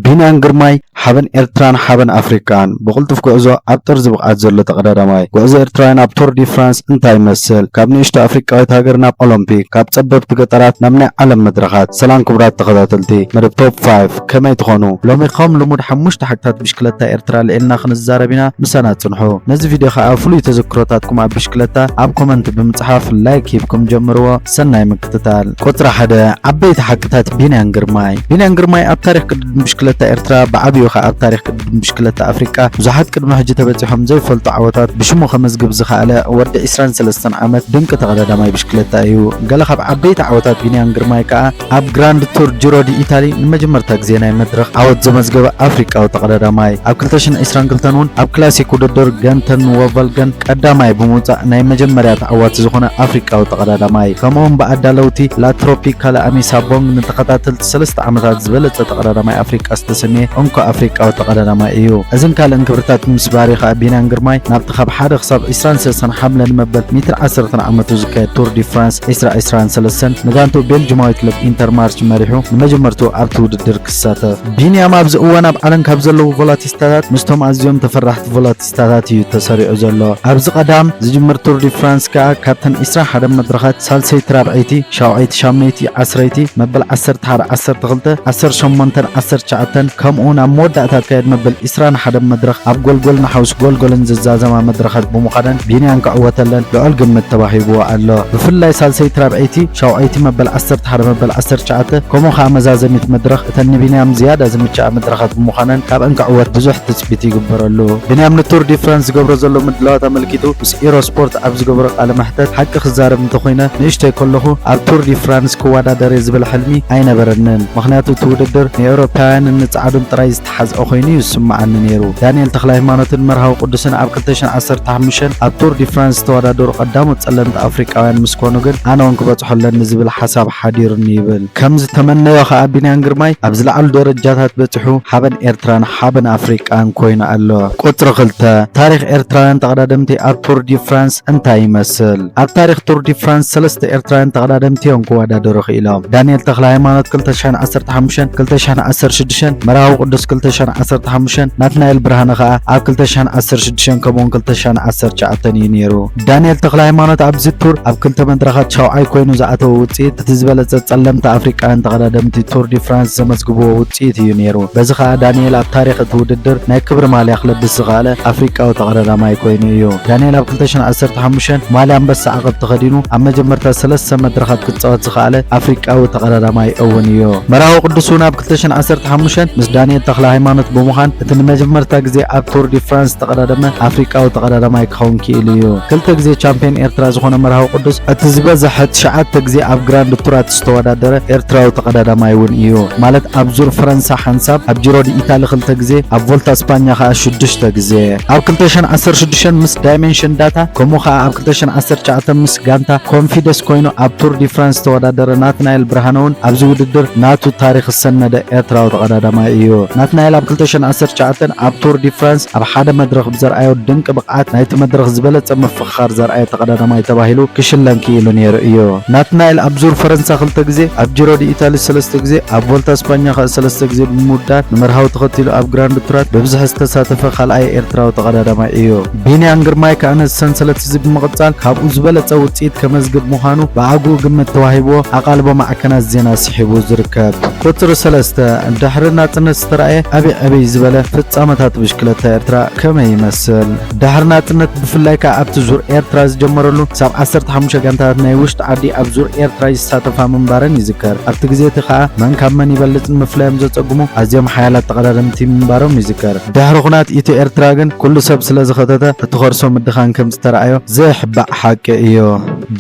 ቢንያም ግርማይ ሓበን ኤርትራን ሓበን ኣፍሪቃን! ብቕልጡፍ ጉዕዞ ኣብ ጥርዚ ብቕዓት ዘሎ ተቐዳዳማይ! ጉዕዞ ኤርትራውያን ኣብ ቶር ዲ ፍራንስ እንታይ ይመስል? ካብ ንእሽቶ ኣፍሪቃዊት ሃገር ናብ ኦሎምፒክ፣ ካብ ጸበብቲ ገጠራት ናብ ናይ ዓለም መድረኻት! ሰላም ክቡራት ተኸታተልቲ መደብ ቶፕ ፋይፍ ከመይ ትኾኑ? ሎሚ ከም ልሙድ ሓሙሽተ ሓቅታት ብሽክለታ ኤርትራ ኣልዒልና ክንዛረብ ኢና፣ ምሳና ጽንሑ። ነዚ ቪድዮ ከኣ ፍሉይ ተዘክሮታትኩም ኣብ ብሽክለታ ኣብ ኮመንት ብምጽሓፍ ላይክ ሂብኩም ጀምርዎ። ሰናይ ምክትታል። ቁጽሪ ሓደ ዓበይቲ ሓቅታት ቢንያን ግርማይ ቢንያን ግርማይ ኣብ ታሪኽ ቅድድም ብሽክለታ ኤርትራ ብዓብዩ ከኣ ኣብ ታሪኽ ቅድድም ብሽክለታ ኣፍሪቃ ብዙሓት ቅድሚ ሕጂ ተበጺሖም ዘይፈልጡ ዓወታት ብሽሙ ከመዝግብ ዝኸኣለ ወዲ 23 ዓመት ድንቂ ተቐዳዳማይ ብሽክለታ እዩ። ገለ ካብ ዓበይቲ ዓወታት ቢንያን ግርማይ ከኣ ኣብ ግራንድ ቱር ጅሮ ዲ ኢታሊ ንመጀመርታ ግዜ ናይ መድረኽ ዓወት ዘመዝገበ ኣፍሪቃዊ ተቐዳዳማይ ኣብ 2022 እውን ኣብ ክላሲክ ውድድር ገንተን ወቫልገን ቀዳማይ ብምውጻእ ናይ መጀመርያ ተዓዋቲ ዝኾነ ኣፍሪቃዊ ተቐዳዳማይ ከምኡውን ብኣዳለውቲ ላትሮፒ ካላኣሚ ሳቦንግ ንተኸታተልቲ ሰለስተ ዓመታት ዝበለጸ ተቐዳዳማይ ኣፍሪቃ ዝተሰምየ እንኮ ኣፍሪቃዊ ተቐዳዳማይ እዩ። እዝን ካልእን ክብርታት ምስ ባሪ ከዓ ቢንያን ግርማይ ናብቲ ካብ ሓደ ክሳብ 23 ሓምለ ንመበል 110 ዓመቱ ዝካየድ ቱር ዲ ፍራንስ ዕስራ ዕስራን ሰለስተን ንጋንትኡ ቤልጅማዊ ክለብ ኢንተር ማርች መሪሑ ንመጀመርትኡ ኣብቲ ውድድር ክሳተፍ። ቢንያም ኣብዚ እዋን ኣብ ዓለም ካብ ዘለዉ ቮላቲስታታት ምስቶም ኣዝዮም ተፈራሕቲ ቮላቲስታታት እዩ ተሰሪዑ ዘሎ። ኣብዚ ቀዳም ዝጅምር ቱር ዲ ፍራንስ ከኣ ካብተን ዕስራን ሓደን መድረኻት ሳልሰይቲ ራብዐይቲ ሻውዐይቲ ሻምነይቲ ዓስረይቲ መበል ዓሰርተ ሓደ ዓሰርተ ክልተ ዓሰርተ ሸሞንተን ዓሰርተ ትሽዓተን ከምኡውን ኣብ መወዳእታ ዝካየድ መበል ዕስራን ሓደን መድረኽ ኣብ ጎልጎል ንሓውስ ጎልጎልን ዝዛዘማ መድረኻት ብምዃነን ቢንያን ክዕወተለን ልዑል ግምት ተዋሂብዎ ኣሎ። ብፍላይ ሳልሰይቲ ራብዐይቲ ሻውዐይቲ መበል ዓሰርተ ሓደ መበል ዓሰርተ ትሽዓተ ከምኡ ከኣ መዛዘሚት መድረኽ እተን ንቢንያም ዝያዳ ዝምችኣ መድረኻት ብምዃነን ካብኣን ክዕወት ብዙሕ ትጽቢት ይግበረሉ። ቢንያም ንቱር ዲ ፍራንስ ዝገብሮ ዘሎ ምድላዋት ኣመልኪቱ ምስ ኢሮ ስፖርት ኣብ ዝገበሮ ቃለ መሕተት ሓቂ ክዛረብ እንተኾይነ ንእሽቶይ ከለኹ ኣብ ቱር ዲ ፍራንስ ክወዳደር'የ ዝብል ሕልሚ ኣይነበረንን። ምኽንያቱ እቲ ውድድር ንኤውሮፓውያንን ንጸዓዱን ጥራይ ሓዝኦ ኮይኑ እዩ ዝስምዓኒ ነይሩ። ዳንኤል ተኽለሃይማኖትን መርሃዊ ቅዱስን ኣብ ክልተ ሽሕን ዓሰርተ ሓሙሽተን ኣብ ቱር ዲ ፍራንስ ዝተወዳደሩ ቀዳሞት ጸለምቲ ኣፍሪቃውያን ምስ ኮኑ ግን ኣነ እውን ክበጽሖ ኣለኒ ዝብል ሓሳብ ሓዲሩኒ ይብል። ከም ዝተመነዮ ከኣ ቢንያም ግርማይ ኣብ ዝለዓሉ ደረጃታት በጺሑ ሓበን ኤርትራን ሓበን ኣፍሪቃን ኮይኑ ኣሎ። ቁጽሪ ክልተ፣ ታሪኽ ኤርትራውያን ተቐዳደምቲ ኣብ ቱር ዲ ፍራንስ እንታይ ይመስል? ኣብ ታሪኽ ቱር ዲ ፍራንስ ሰለስተ ኤርትራውያን ተቐዳደምቲ እዮም ክወዳደሩ ክኢሎም። ዳንኤል ተኽለ ሃይማኖት 2015፣ 2016፣ መርሃዊ ቅዱስ 2015፣ ናትናኤል ብርሃነ ከኣ ኣብ 2016 ከምኡውን 2019 እዩ ነይሩ። ዳንኤል ተኽለ ሃይማኖት ኣብዚ ቱር ኣብ ክልተ መድረኻት ሻውዓይ ኮይኑ ዝኣተወ ውጽኢት እቲ ዝበለጸ ጸለምቲ ኣፍሪቃውያን ተቐዳደምቲ ቱር ዲ ፍራንስ ዘመዝግብዎ ውጽኢት እዩ ነይሩ። በዚ ከኣ ዳንኤል ኣብ ታሪኽ እቲ ውድድር ናይ ክብሪ ማልያ ክለብስ ዝኸኣለ ኣፍሪቃዊ ተቐዳዳማይ ኮይኑ እዩ። ዳንኤል 2015 ማልያ ኣንበሳ ዓቐብ ተኸዲኑ ኣብ መጀመርታ ሰለስተ መድረኻት ክጻወት ዝኸኣለ ኣፍሪቃዊ ተቐዳዳማይ እውን እዩ። መራዊ ቅዱስ እውን ኣብ 2015 ምስ ዳንኤል ተኽለ ሃይማኖት ብምዃን እቲ ንመጀመርታ ግዜ ኣብ ቱር ዲ ፍራንስ ዝተቐዳደመ ኣፍሪቃዊ ተቐዳዳማይ ክኸውን ክኢሉ እዩ። ክልተ ግዜ ቻምፕዮን ኤርትራ ዝኾነ መራዊ ቅዱስ እቲ ዝበዝሐ ትሽዓተ ግዜ ኣብ ግራንድ ቱራት ዝተወዳደረ ኤርትራዊ ተቐዳዳማይ እውን እዩ። ማለት ኣብ ዙር ፈረንሳ ሓንሳብ፣ ኣብ ጂሮ ዲ ኢታሊ ክልተ ግዜ፣ ኣብ ቮልታ ስፓኛ ከኣ ሽዱሽተ ግዜ። ኣብ 2016 ምስ ዳይሜንሽን ዳታ ከምኡ ከኣ ኣብ 2019 ምስ ጋንታ ኮንፊደስ ኮይኑ ኣብ ቱር ዲ ፍራንስ ዝተወዳደረ ናትናኤል ብርሃነ እውን ኣብዚ ውድድር ናቱ ታሪኽ ዝሰነደ ኤርትራዊ ተቐዳዳማይ እዩ። ናትናኤል ኣብ 2019 ኣብ ቱር ዲ ፍራንስ ኣብ ሓደ መድረኽ ብዘርኣዮ ድንቂ ብቕዓት ናይቲ መድረኽ ዝበለጸ ምፍኻ ዝኽር ዘርኣየ ተቐዳዳማይ ተባሂሉ ክሽለም ክኢሉ ነይሩ እዩ። ናትናኤል ኣብ ዙር ፈረንሳ ክልተ ግዜ፣ ኣብ ጂሮ ዲኢታሊ ሰለስተ ግዜ፣ ኣብ ቮልታ ስፓኛ ከእ ሰለስተ ግዜ ብምውዳድ ንመርሃዊ ተኸቲሉ ኣብ ግራንድ ቱራት ብብዝሒ ዝተሳተፈ ካልኣይ ኤርትራዊ ተቐዳዳማይ እዩ። ቢንያም ግርማይ ከኣ ነዚ ሰንሰለት እዚ ብምቕጻል ካብኡ ዝበለጸ ውጽኢት ከመዝግብ ምዃኑ ብኣግኡ ግምት ተዋሂብዎ ኣቓልቦ ማዕከናት ዜና ስሒቡ ዝርከብ። ቁጽሪ ሰለስተ፣ ድሕሪ ናጽነት ዝተራእየ ዕብይ ዕብይ ዝበለ ፍጻመታት ብሽክለታ ኤርትራ ከመይ ይመስል? ድሕሪ ናጽነት ብፍላይ ከኣ ኣብቲ ዙር ኤርትራ ዝጀመረሉ ክሳብ ዓሰርተ ሓሙሽተ ጋንታታት ናይ ውሽጢ ዓዲ ኣብ ዙር ኤርትራ ይሳተፋ ምንባረን ይዝከር። ኣብቲ ግዜ እቲ ከኣ መን ካብ መን ይበልጽ ንምፍላዮም ዘጸግሙ ኣዝዮም ሓያላት ተቐዳደምቲ ምንባሮም ይዝከር። ድሕሪ ኩናት ኢትዮ-ኤርትራ ግን ኩሉ ሰብ ስለዝኸተተ እቲ ከርሶ ምድኻን ከምዝተራእዮ ዘይሕባእ ሓቂ እዩ።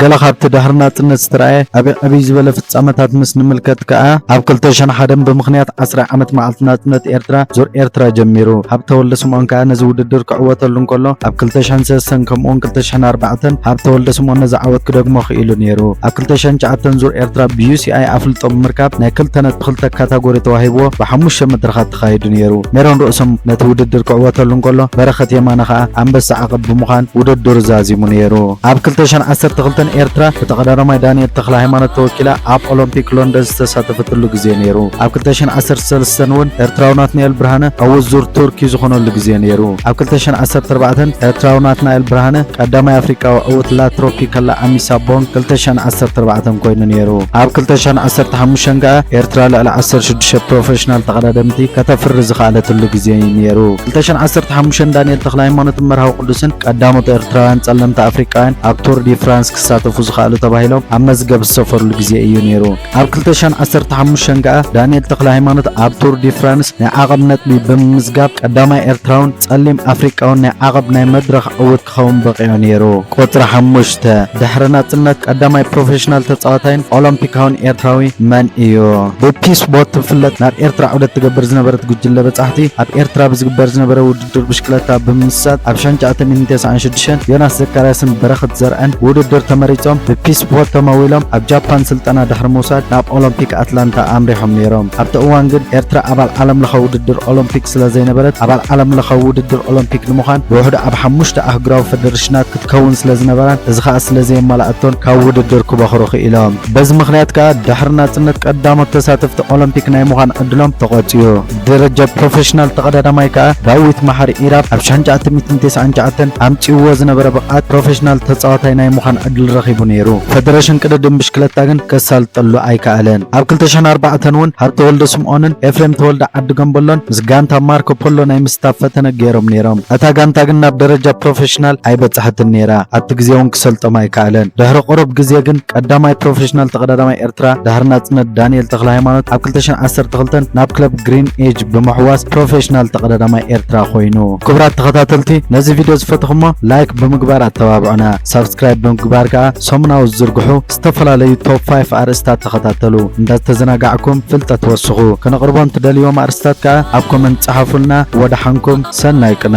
ገለ ካብቲ ድሕሪ ናጽነት ዝተራእየ ዓቢ ዕብይ ዝበለ ፍጻመታት ምስ ንምልከት ከኣ፣ ኣብ ክልተ ሽሕን ሓደን ብምኽንያት ዓስራይ ዓመት መዓልቲ ናጽነት ኤርትራ፣ ዙር ኤርትራ ጀሚሩ። ሃብተ ወልደስምኦን ከኣ ነዚ ውድድር ክዕወተሉ እንከሎ፣ ኣብ ክልተ ሽሕን ሰሰን ከምኡ'ውን ክልተ ሽሕን ኣርባዕተን ሃብተ ወልደስምኦን ነዚ ዓወት ክደግሞ ክኢሉ ነይሩ። ኣብ ክልተ ሽሕን ትሽዓተን ዙር ኤርትራ ብዩሲኣይ ኣፍልጦ ብምርካብ ናይ ክልተ ነጥቢ ክልተ ካታጎሪ ተዋሂብዎ ብሓሙሽተ መድረኻት ተኻይዱ ነይሩ። ሜሮን ርእሶም ነቲ ውድድር ክዕወተሉ እንከሎ፣ በረኸት የማነ ከኣ ኣንበሳ ዓቐብ ብምዃን ውድድሩ ዛዚሙ ነይሩ። ኣብ ክልተ ሽሕን ዓሰርተ ክልተን ኤርትራ ብተቐዳዳማይ ዳንኤል ተኽለሃይማኖት ተወኪላ ኣብ ኦሎምፒክ ሎንደን ዝተሳተፈትሉ ግዜ ነይሩ። ኣብ ክልተ ሽሕን ዓሰርተ ሰለስተን እውን ኤርትራዊ ናትናኤል ብርሃነ ዕዉት ዙር ቱርኪ ዝኾነሉ ግዜ ነይሩ። ኣብ ክልተ ሽሕን ዓሰርተ ኣርባዕተን ኤርትራዊ ናትናኤል ብርሃነ ቀዳማይ ኣፍሪቃዊ ዕውት ላ ትሮፒካላ ኣሚሳ ቦንግ ክልተ ሽሕን ዓሰርተ ኣርባዕተን ኮይኑ ነይሩ። ኣብ ክልተ ሽሕን ዓሰርተ ሓሙሽተን ከኣ ኤርትራ ልዕሊ ዓሰርተ ሽዱሽተ ፕሮፈሽናል ተቐዳደምቲ ከተፍሪ ዝኸኣለትሉ ግዜ እዩ ነይሩ። ክልተ ሽሕን ዓሰርተ ሓሙሽተን ዳንኤል ተኽለሃይማኖትን መርሃዊ ቅዱስን ቀዳሞት ኤርትራውያን ጸለምቲ ኣፍሪቃውያን ኣብ ቱር ዲ ፍራንስ ክሳተፉ ዝኸኣሉ ተባሂሎም ኣብ መዝገብ ዝሰፈርሉ ግዜ እዩ ነይሩ። ኣብ ክልተ ሽሕን ዓሰርተ ሓሙሽተን ከኣ ዳንኤል ተክለሃይማኖት ኣብ ቱር ዲ ፍራንስ ናይ ዓቐብ ነጥቢ ብምምዝጋብ ቀዳማይ ኤርትራውን ጸሊም ኣፍሪቃውን ናይ ዓቐብ ናይ መድረኽ ዕውት ክኸውን በቒዑ ነይሩ። ቁጽሪ ሓሙሽተ፣ ድሕሪ ናጽነት ቀዳማይ ፕሮፌሽናል ተጻዋታይን ኦሎምፒካውን ኤርትራዊ መን እዩ? ብፒስ ቦት ትፍለጥ ናብ ኤርትራ ዑደት ትገብር ዝነበረት ጉጅለ በጻሕቲ፣ ኣብ ኤርትራ ብዝግበር ዝነበረ ውድድር፣ ውድድር ብሽክለታ ብምምሳጥ ኣብ ሻንጫ ኣተሚን ተስዓን ሽዱሽተን ዮናስ ዘካርያስን በረኸት ዘርዐን ብውድድር ተመሪፆም ብፒስ ቦት ተመዊሎም ኣብ ጃፓን ስልጠና ድሕሪ ምውሳድ ናብ ኦሎምፒክ ኣትላንታ ኣምሪሖም ነይሮም። ኣብቲ እዋን ግን ኤርትራ ኣባል ዓለም ለኸ ውድድር ኦሎምፒክ ስለዘይነበረት ኣባል ዓለም ለኸ ውድድር ኦሎምፒክ ንምዃን ብውሕዱ ኣብ ሓሙሽተ ኣህጉራዊ ፈደረሽናት ክትከውን ስለዝነበራን እዚ ከዓ ስለዘየማልኣቶን ካብ ውድድር ክበኽሩ ክኢሎም። በዚ ምኽንያት ከዓ ድሕሪ ናፅነት ቀዳሞት ተሳተፍቲ ኦሎምፒክ ናይ ምዃን ዕድሎም ተቖፅዩ። ደረጃ ፕሮፌሽናል ተቐዳዳማይ ከኣ ዳዊት መሓሪ ኢራብ ኣብ ሽሕን ትሽዓተ ሚእትን ተስዓን ትሽዓተን ኣምጺእዎ ዝነበረ ብቕዓት ፕሮፌሽናል ተጻዋታይ ናይ ምዃን ዕድል ረኺቡ ነይሩ። ፈደረሽን ቅድድም ብሽክለታ ግን ከሳልጠሉ ኣይከኣለን። ኣብ ክልተ ሽሕን ኣርባዕተን እውን ሃብተወልደ ስምኦንን ኤፍሬም ተወልደ ዓዲ ገምበሎን ምስ ጋንታ ማርኮ ፖሎ ናይ ምስታፍ ፈተነ ገይሮም ነይሮም። እታ ጋንታ ግን ናብ ደረጃ ፕሮፌሽናል ኣይበጽሐትን ነይራ። ኣብቲ ግዜ እውን ክሰልጦም ኣይከኣለን። ድሕሪ ቁሩብ ግዜ ግን ቀዳማይ ፕሮፌሽናል ተቐዳዳማይ ኤርትራ ድሕሪ ናጽነት ዳንኤል ተኽለሃይማኖት ኣብ 2012 ናብ ክለብ ግሪን ኤጅ ብምሕዋስ ፕሮፌሽናል ተቐዳዳማይ ኤርትራ ኮይኑ። ክቡራት ተኸታተልቲ ነዚ ቪድዮ ዝፈተኹሞ ላይክ ብምግባር ኣተባብዑና፣ ሳብስክራይብ ብምግባር ከዓ ሰሙናዊ ዝዝርግሑ ዝተፈላለዩ ቶፕ 5 ኣርእስታት ተኸታተሉ። እንዳተዘናጋዕኩም ፍልጠት ወስኹ። ከነቕርቦ እንትደልዎም ኣርእስታት ከዓ ኣብ ኮመንት ጸሓፉልና። ወደሓንኩም ሰናይ ቅነ